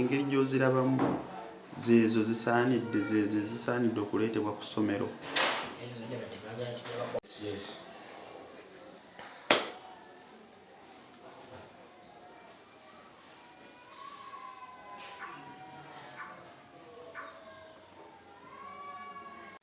engeri gy'ozirabamu zeezo zisaanidde zeezo zisaanidde okuleetebwa ku ssomero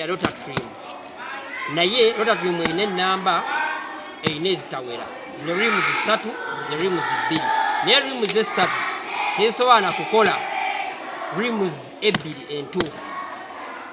ya rotatrim naye rotatrim erina enamba erina ezitawera zino rims ssatu zino rims bbiri naye rims essatu tezisobola na kukola rims ebbiri entuufu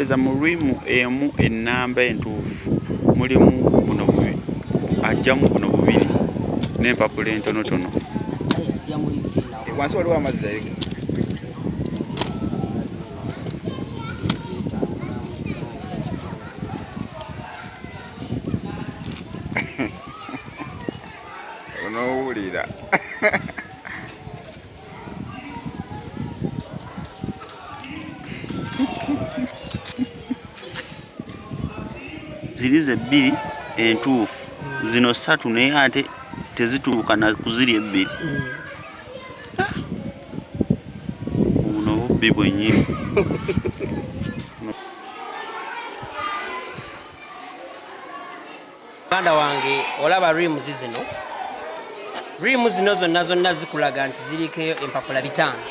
eza mu lwimu emu ennamba entuufu mulimu buno bubiri ajjamu buno bubiri n'empapula entonotono wansi waliwo amazzi naye onoowulira ziri ze bbiri entuufu zino ssatu naye ate tezituuka na kuziri ebbiri buno bubbi bwenyini muganda wange olaba rims zino rimu zino zonna zonna zikulaga nti ziriko empapula bitaano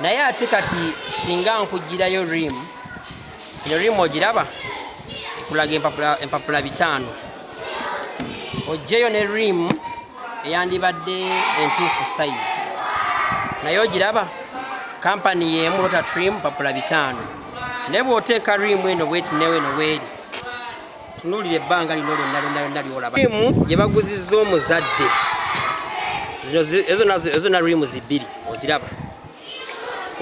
naye ate kati singa nkugirayo rimu eno rimu ogiraba ekulaga empapula bitaano ojjeyo ne rimu eyandibadde entuufu sayizi naye ogiraba kampani yeemu lota trim mpapula bitaano naye bw'oteeka rimu eno bweti newe eno weeri tunuulira ebbanga lino lyonna lyonna lyonna lyolaba rimu gye baguzizza omuzadde ezo na rimu zibbiri oziraba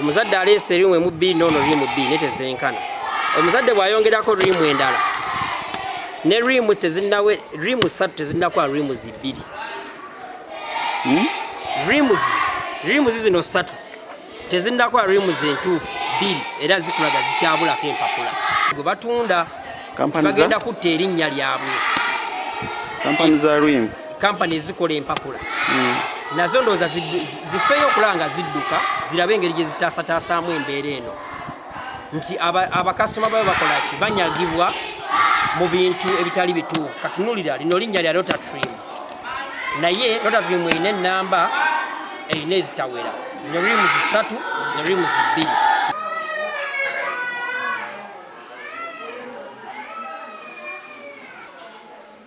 omuzadde aleese rimu emu bbiri noono rimu bbiri naye tezenkana omuzadde bw'ayongerako rimu endala ne rimu tezinawe rimu ssatu tezinakola rimu zibbiri hmm? rimu zi rimu zi zino ssatu tezinnakola rims entuufu bbiri era zikulaga zikyabulako empapula gwe batunda bagenda kutta erinnya lyabwe kampani za rim kampani ezikola empapula hmm. nazo ndowooza zifeeyo okulaba nga zidduka zirabe engeri gye zitaasataasaamu embeera eno nti abakasitoma babe bakolaki banyagibwa mu bintu ebitali bituufu katunulira lino linnya lya rotatrim naye rotatrim erina enamba erina ezitawera zino rimu zisatu zino rimu zibbiri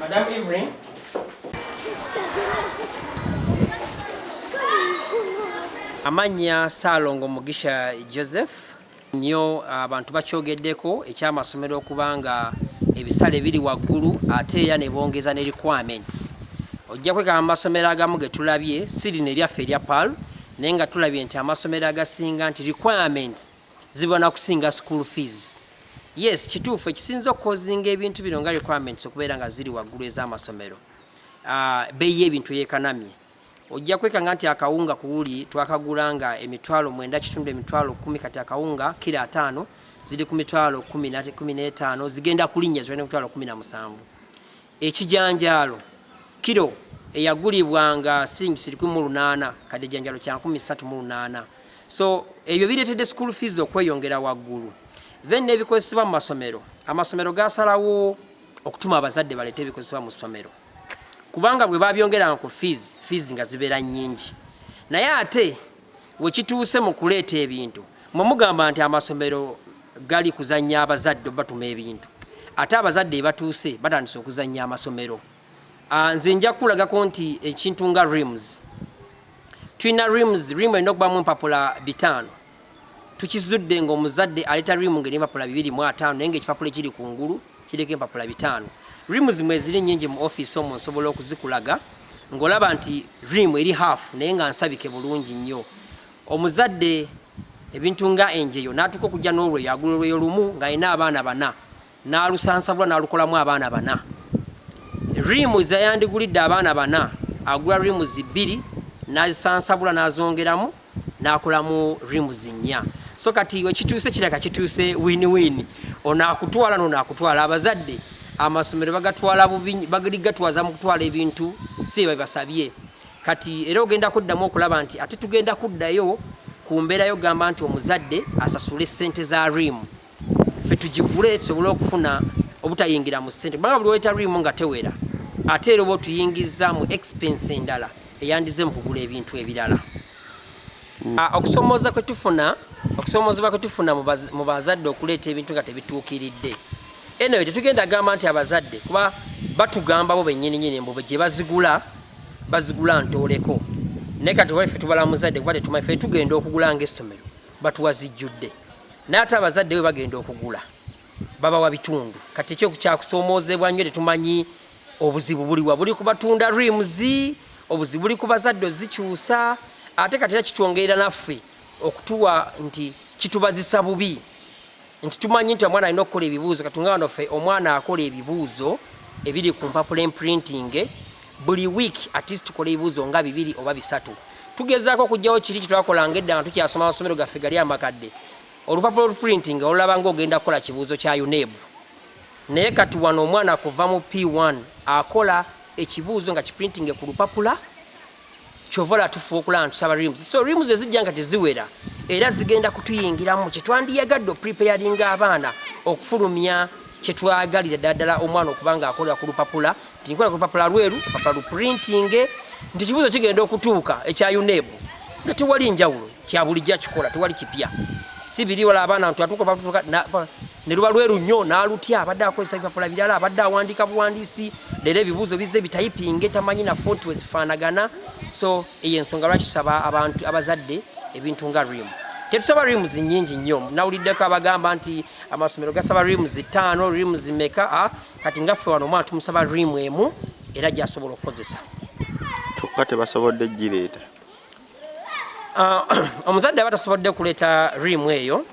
Madam Evelyn. Amanya Salongo Mugisha Joseph nyo abantu bakyogeddeko ekyamasomero okuba nga ebisale biri waggulu ate era ne bongeza ne requirements ojja kwekaba amasomero agamu ge tulabye siri ne lyaffe erya pal naye nga tulabye nti amasomero agasinga nti requirements ziba nakusinga school fees yes kituufu ekisinza okukozinga ebintu bino nga requirements okubeera nga ziri waggulu ez'amasomero ah, beyi y'ebintu eyekanamye ojja kwekanga nti akawunga kuwuli twakagula nga emitwalo mwenda kitundu emitwalo kumi kati akawunga kira ataano ziri ku mitwalo kumi n'etaano zigenda kulinnya ziba ne mitwalo kumi na musanvu Ekijanjaalo, Kilo eyagulibwa nga silingisi lukumi mu lunaana kati ekijanjaalo kya nkumi ssatu mu lunaana. So ebyo bireetedde school fees okweyongera waggulu. Then n'ebikozesebwa mu masomero, amasomero gaasalawo okutuma abazadde baleete ebikozesebwa mu ssomero kubanga bwe babyongeranga ku fees, fees nga zibeera nnyingi naye ate wekituuse mu kuleeta ebintu mwe mugamba nti amasomero gali kuzannya abazadde obatuma ebintu ate abazadde ebatuuse batandise okuzannya amasomero ah, nze nja kukulagako nti ekintu nga rims tulina rims rim erina okubamu empapula bitaano tukizudde ngaomuzadde aleeta rim nga eri empapula bibiri mu ataano naye nga ekipapula ekiri ku ngulu Kiriko empapula bitaano. Rims mweziri nyingi mu office omwo nsobola okuzikulaga ngolaba nti rim eri half naye nga nsabike bulungi nnyo. Omuzadde ebintu nga enjeyo natuuka okujja n'olweyo agula olweyo lumu nga alina abaana bana n'alusansabula n'alukolamu abaana bana. Rim zayandigulidde abaana bana agula rims bbiri n'azisansabula n'azongeramu nakolamu rims nnya so kati wekituuse kiraga kituuse win win ono akutwala nono akutwala abazadde amasomero bagatwala bubi bagaligatwaza mu kutwala ebintu si bebasabye kati era ogenda kuddamu okulaba nti ate tugenda kuddayo ku mbeerayo gamba nti omuzadde asasule ssente za rimu fe tugigule tusobole okufuna obutayingira mu sente kubanga buli wetaliimu nga tewera ate era oba otuyingizza mu expense endala eyandize mu kugula ebintu ebirala hmm. ah, okusomooza kwetufuna okusomoozebwa kwetufuna mu bazadde okuleeta ebintu nga tebituukiridde eno yo tetugenda gamba nti abazadde kuba batugamba bo benyininyini mbu gye bazigula bazigula ntooleko naye kati waife tubala muzadde kuba tetumanyi fe tugenda okugula nga essomero batuwa zijjudde naye ate abazadde we bagenda okugula babawa bitundu kati ekyo kyakusoomoozebwa nnyo tetumanyi obuzibu buliwa buli ku batunda rims obuzibu buli ku bazadde ozikyusa ate kati era kitwongerera naffe okutuwa nti kitubazisa bubi nti tumanyi nti omwana alina okukola ebibuuzo katunga wano ffe omwana akola ebibuuzo ebiri ku mpapula emprintinge buli week at least tukola ebibuuzo nga bibiri oba bisatu tugezaako okugyawo kiri kyetwakolanga edda nga tukyasoma amasomero gaffe gali amakadde olupapula oluprinting olulaba nga ogenda kukola kibuuzo kya uneb naye kati wano omwana kuva mu p1 akola ekibuuzo nga kiprintinge ku lupapula kyovola tufuba okulaba ntusaba rims so rims ezijja nga teziwera era zigenda kutuyingiramu kyetwandiyagadde opreparinga abaana okufulumya kyetwagalira ddala omwana okuba nga akolera ku lupapula nti nkola ku lupapula lweru lupapula luprintinge nti kibuuzo kigenda okutuuka ekya uneb nga tewali njawulo kyabulijjo akikola tewali kipya si biri wala abaana nti atuuka ne luba lweru nnyo n'alutya abadde akozesa bipapula birala abadde awandiika buwandiisi leero ebibuuzo bizze bitayipinge tamanyi na fonti wezifaanagana so eyo ensonga lwaki tusaba abantu abazadde ebintu nga rimu tetusaba rims nyingi nnyo nawuliddeko abagamba nti amasomero gasaba rims ttaano rims meka a ah, kati nga ffe wano omwana tumusaba rimu emu era gyasobola okukozesa kyokka tebasobodde gireeta ah, omuzadde aba tasobodde kuleeta rimu eyo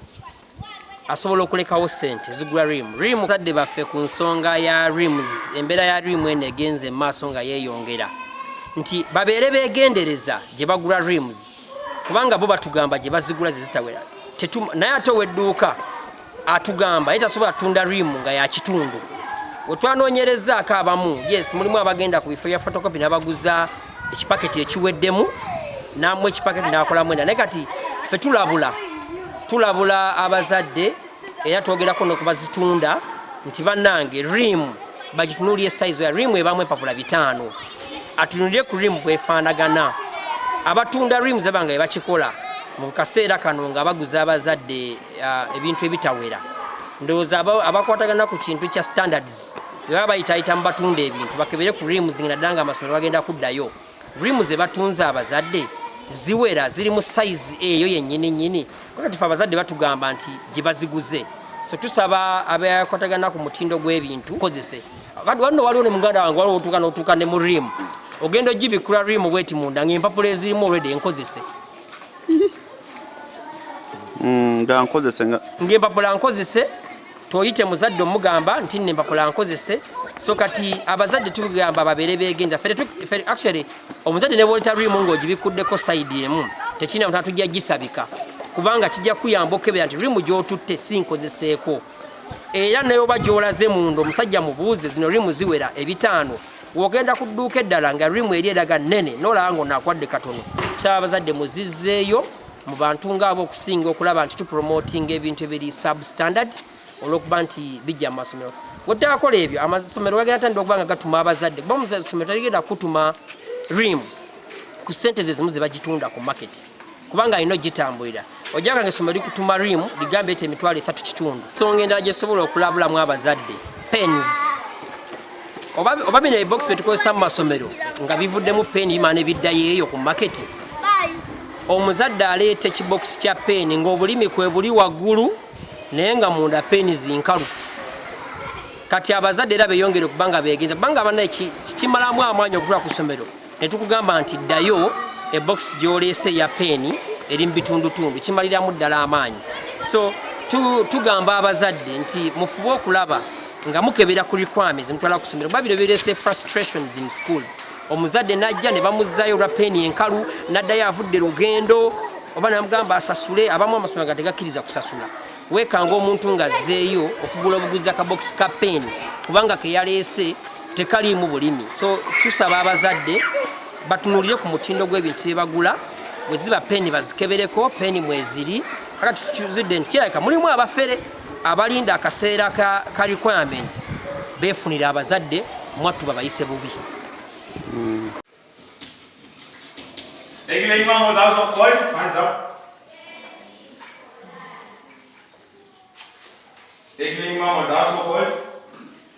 asobola okulekawo sente zigula rimu rimu zadde baffe ku nsonga ya rims embeera ya rimu eno egenze mu maaso nga yeeyongera nti babeere beegendereza gye bagula rims kubanga bo batugamba gye bazigula ze zitawera naye ate owedduuka atugamba ye tasobola tunda rimu nga yakitundu wetwanoonyerezaako abamu yes mulimu abagenda ku bifo bya fotokopi nabaguza ekipaketi ekiweddemu namu ekipaketi nakolamu enda naye kati fe tulabula tulabula abazadde era twogerako nokubazitunda nti banange rimu bagitunulire size ya rimu ebamu empapula bitaano atunulire ku rimu bwefaanagana abatunda rimu zebanga ebakikola mu kaseera kano nga baguza abazadde uh, ebintu ebitawera ndowooza abakwatagana ku kintu kya standards baba bayitaayita mu batunda ebintu bakebere ku rimu zingina ddala nga amasomero bagenda kuddayo rimu ze batunze abazadde ziwera ziri mu sayizi eyo yennyini nnyini kati fe abazadde batugamba nti gye baziguze so tusaba abakwatagana ku mutindo gw'ebintu kozese wanno waliwo ne muganda wange waliwo otuuka notuuka ne mu rimu ogenda ogibikula rimu bweti munda ngaempapula ezirimu olwedde enkozese mm, nga nkozese ngaempapula nkozese toyite muzadde omugamba nti nne mpapula nkozese so kati abazadde tugamba babeere begenda actually omuzadde nebwoleta rimu ngaogibikkuddeko saidi emu tekirina mutana tujja gisabika kubanga kijja kuyamba okukebera nti rimu gyotutte si nkozeseeko era neoba gyolaze munda omusajja mubuuze zino rimu ziwera ebitaano wogenda ku dduuka eddala nga rimu eri eraga nnene nolaba nga onakwadde katono kusaba abazadde muzizzeeyo mu bantu ngaabo okusinga okulaba nti tupromotinga ebintu ebiri substandard olwokuba nti bijja mu masomero wetakola ebyo amasomero gagenda tandika okuba nga gatuma abazadde kuba musomero taligenda kutuma rimu ku sente zezimu zebagitunda ku maketi kubanga alina ogitambulira ojaganga essomero likutuma rimu ligambye ti emitwalo esatu kitundu nsonga endala gyesobola okulabulamu abazadde pens oba bino ebokisi byetukozesa mu masomero nga bivuddemu peni bimana ebiddayo eyo ku maketi omuzadde aleeta ekibokisi kya peni ngaobulimi kwebuli waggulu naye nga munda peni zinkalu kati abazadde era beyongere okubanga begenza kubanga abana kimalamu amaanyi okutula ku somero ne tukugamba nti ddayo ebokisi gy'oleese eya peeni eri mu bitundutundu kimaliramu ddala amaanyi so tugamba abazadde nti mufube okulaba nga mukebera ku requirements mutwala ku ssomero kuba bino bireese frustrations in schools omuzadde n'ajja ne bamuzzaayo olwa peeni enkalu n'addayo avudde lugendo oba namugamba asasule abamu amasomero nga tegakkiriza kusasula weekanga omuntu ng'azzeeyo okugula obuguzi akabokisi ka peeni kubanga keyaleese tekaliimu bulimi so tusaba abazadde batunulire ku mutindo gw'ebintu bye bagula bwe ziba peeni bazikebereko peeni mweziri aka tuzidde nti kirabika mulimu abafere abalinda akaseera ka, ka requirements beefunira abazadde mwattu babayise bubi mm. Ignorant mama, that's so good.